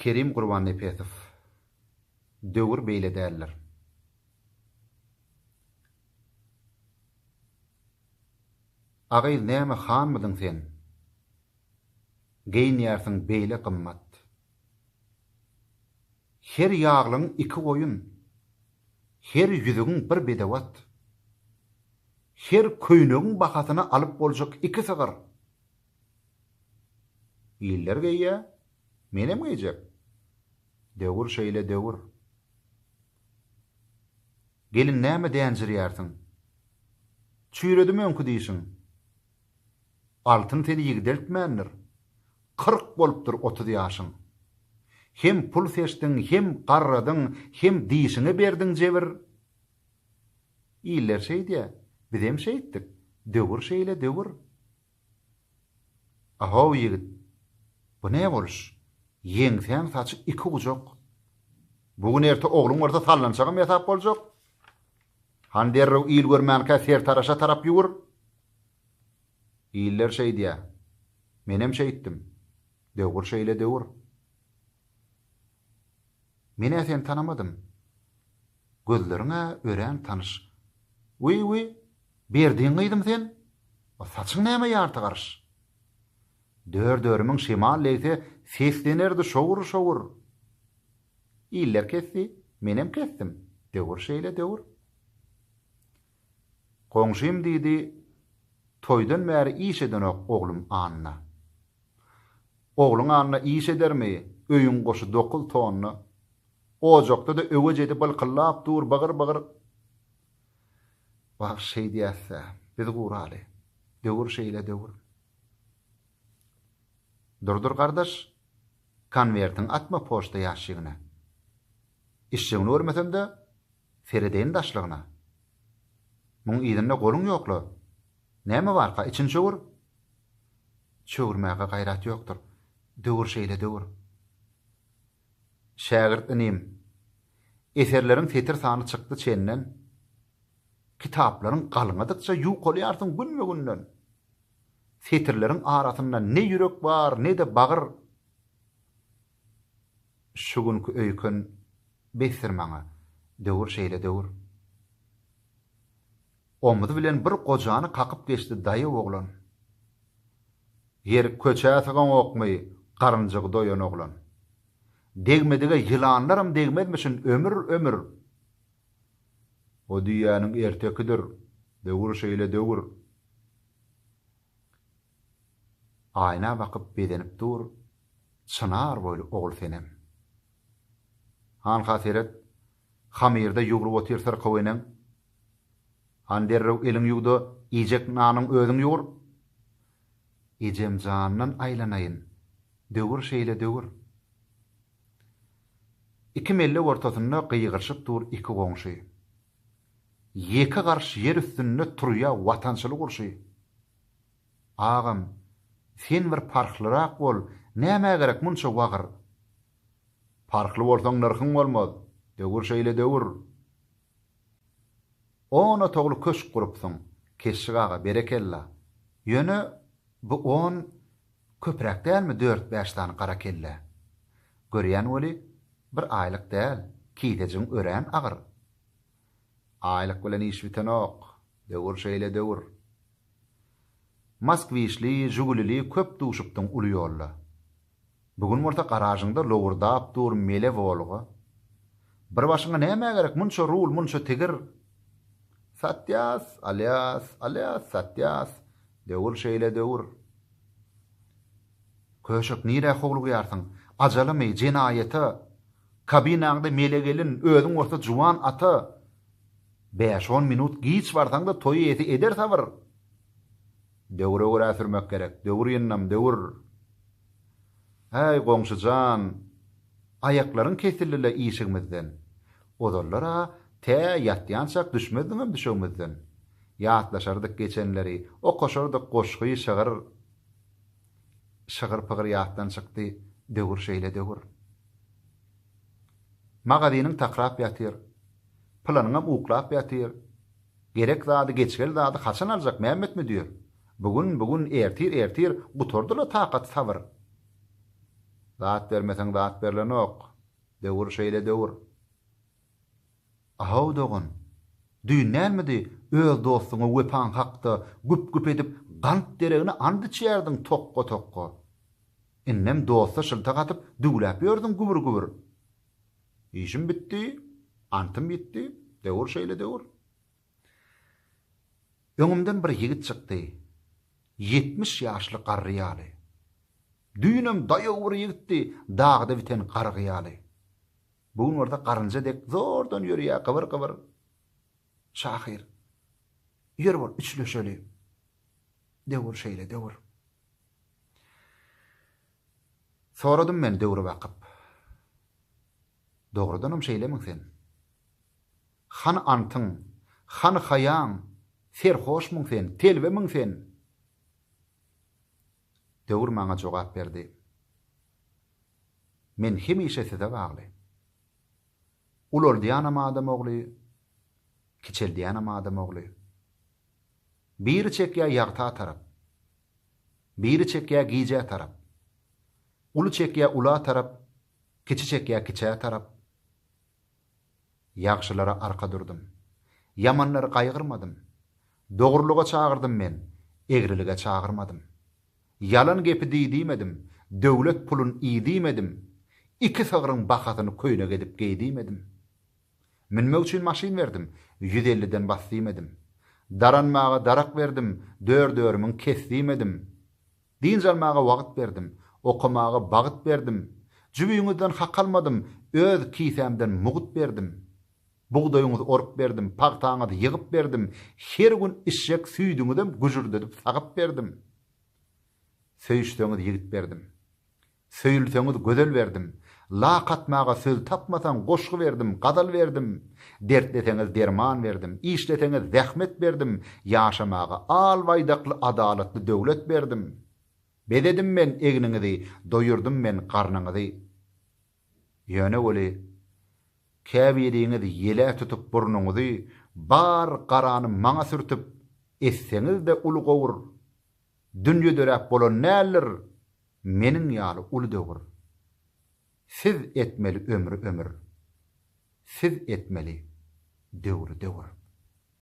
Kerim Gurbannepesow, Döwür beýle däldir. A gyz näme hanmydyň sen? Geýinýärsiň beýle gymmat. Her ýaglygyň iki goýun, her ýüzügiň bir bedewat. Her köýnegiň bahasyny alyp boljak iki sygyr. Iller geýýä, menem geýjek. Döwür şeýle döwür. Gelin näme dänjirýärsiň? Çüýredim öňki dişiň. Altyn seni ýigdeltmändir. Kyrk bolupdyr otuz ýaşyň. Hem pul seçdiň, hem garradyň, hem dişiňe berdiň jebir. Iller şeýdýä, bizem şeýtdik. Döwür şeýle döwür. A-how ýigit, bu ne boluş? Ýeňsäň saçy iki gujak. Bu gün erte ogluň bolsa sallançagam ýasap boljak. Han derrew il görmänkä sertaraşa tarap ýüwür. Iller şeýdýä. Menem şeýtdim. Döwür şeýle döwür. Men-ä seni tanamadym. Gözleriň-ä örän tanyş. Wiý-wiý, Berdiň gyzym sen? O saçyň näme ýarty garyş? Dör-dörümiň şemal degse seslenerdi şowur-şowur. Iller kesdi, menem kesdim, döwür şeýle, döwür. Goňşym diýdi, Toýdan bäri iş edenok oglum Anna. Ogluň anna iş edermi, öýüň goşy dokuz tonna. Ojakda-da öwe jedi bylkyllap dur, bygyr-bygyr. Wah, şeýdýäs-dä, biz guraly. Döwür şeýle döwür. Durdur gardaş, konwertiňi atma poçta ýaşigine. Işjigini görmesem-de, Seredeýin daşlygyna. Muň yzynda goluň ýok-la. Näme barka, içini çöwür. Çöwürmäge gaýrat ýokdur. Döwür şeýle döwür. Şägirt inim, eserleriň setir sany çykdy çenden, kitaplaryň galňadykça ýukalýarsyň günbe-günden. Setirleriň arasynda ne ýürek bar, ne-de bagyr. Şu günki öýken besdir maňa, döwür şeýle döwür. Omzy bilen bir gojany kakyp geçdi daýaw oglan. Ýeri köçä sygaňokmy, garynjygy doýan oglan. Degmedige ýylanlaram degmezmişin ömür, ömür. O düýäniň ertekidir, döwür şeýle döwür. Aýna bakyp bezenip dur Çynar boýly ogul senem. Hanha seret, hamyrda ýugrup otyr syrkaw eneň. Han derrew eliň ýuw-da, iýjek nanyň özüň ýugur. Ejemjandan aýlanaýyn, döwür şeýle döwür. Iki mellek ortasynda gygyryşyp dur iki goňşy. Ýeke garş ýer üstünde turýa watançylyk urşy. Agam, sen bir parhlyrak bol, nämä gerek munça wagyr? Parhly bolsaň nyrhyň bolmaz, döwür şeýle döwür. On otagly köşk gurupsyň, Keşşik aga, berekella. Ýöne bu on köpräk dälmi dört-bäş sany gara kellä? Görýän weli, bir aýlyk däl, kisejigiň örän agyr. Aýlyk bilen iş bitenok, Döwür şeýle döwür. Moskwişli, Žugulili köp duşupdiň uly ýolda. Bu gün bolsa garažyňda lowurdap dur mele Wolga. Bir başyňa nämä gerek munça rul, munça tigir? Satýas, alýas, alýas, satýas. Döwür şeýle döwür. Köşek nirä howlugýarsyň? Ajalymy, jenaýata? Kabinaňda mele gelin, özüň bolsa juwan ata. Bäş-on minut giç barsaň-da toý eýesi eder sabyr. Döwre görä sürmek gerek, döwür ýyndam, döwür. Häý, goňşy jan, aýaklaryň kesildi-le işigimizden. Ozallar-a tä ýatýançak düşmezdiňem düşegimizden. Ýatlaşardyk geçenleri, okaşardyk goşgy, şygyr. Şygyr-pygyr ýatdan çykdy, döwür şeýle, döwür. Magazynyň takrap ýatyr. Pylanyňam uklap ýatyr. Gerek zady, geçgel zady haçan aljak Mämmet müdir? Bu gün, bu gün, ertir, ertir, gutardy-la takat, sabyr. Zat bermeseň zat berlenok. Döwür şeýle döwür. A-how dogan, düýn dälmidi, öz dostuňa wepaň hakda güp-güp edip gant deregine and içýärdiň tokga-tokga. Indem dosta şyltak atyp düwläp ýördüň gübür-gübür. Işim bitdi, antym ýitdi, döwür şeýle döwür. Öňümden bir ýigit çykdy. Ýetmiş ýaşly garry ýaly. Düýnem daýaw bir ýigitdi, dagda biten gargy ýaly. Bu gün bolsa garynja dek zordan ýörýär gybyr-gybyr. Şahyr. Ýör bol üçleşeli. Döwür şeýle döwür. Soradym men döwre bakyp. Dogrudanam şeýlemiň sen? Hany antyň, hany haýaň, serhoşmuň sen, telbemiň sen? Döwür maňa jogap berdi. Men hemişe size bagly. Ulaldýanam adam ogly, kiçeldýänem adam ogly. Biri çekýä ýagta tarap. Biri çekýä gijä tarap. Uly çekýä ula tarap, kiçi çekýä kiçä tarap. Ýagşylara arka durdum. Ýamanlary gaýgyrmadym. Dogrulyga çagyrdym men, egrilige çagyrmadym. Ýalan gepi diý diýmedim, döwlet pulun iý diýmedim, iki sygryň bahasyny köýnek edip geý diýmedim. Münmek üçin maşyn berdim, ýüz elliden bas diýmedim. Daranmaga darak berdim, dör-dörümiň kes diýmedim. Dynç almaga wagt berdim, okamaga bagt berdim. Jübiňizden hak almadym, öz kisämden mugt berdim. Bugdaýyňyzy orup berdim, pagtaňyzy ýygyp berdim, her gün içjek süýdüňizem güjürdedip sagyp berdim. Söýüşseňiz ýigit berdim. Söýülseňiz gözel berdim. Lak atmaga söz tapmasaň goşgy berdim, gazal berdim. Dertleseňiz derman berdim. Işleseňiz zähmet berdim. Ýaşamaga al baýdakly adalatly döwlet berdim. Bezedim men egniňizi, doýurdym men garnyňyzy. Ýöne weli, käbiriňiz ýele tutup burnuňyzy, bar garany maňa sürtüp, etseňiz-de uly gowur. Dünýe döräp bolan däldir Meniň ýaly uly döwür. Siz etmeli ömri ömür Siz etmeli döwri döwür.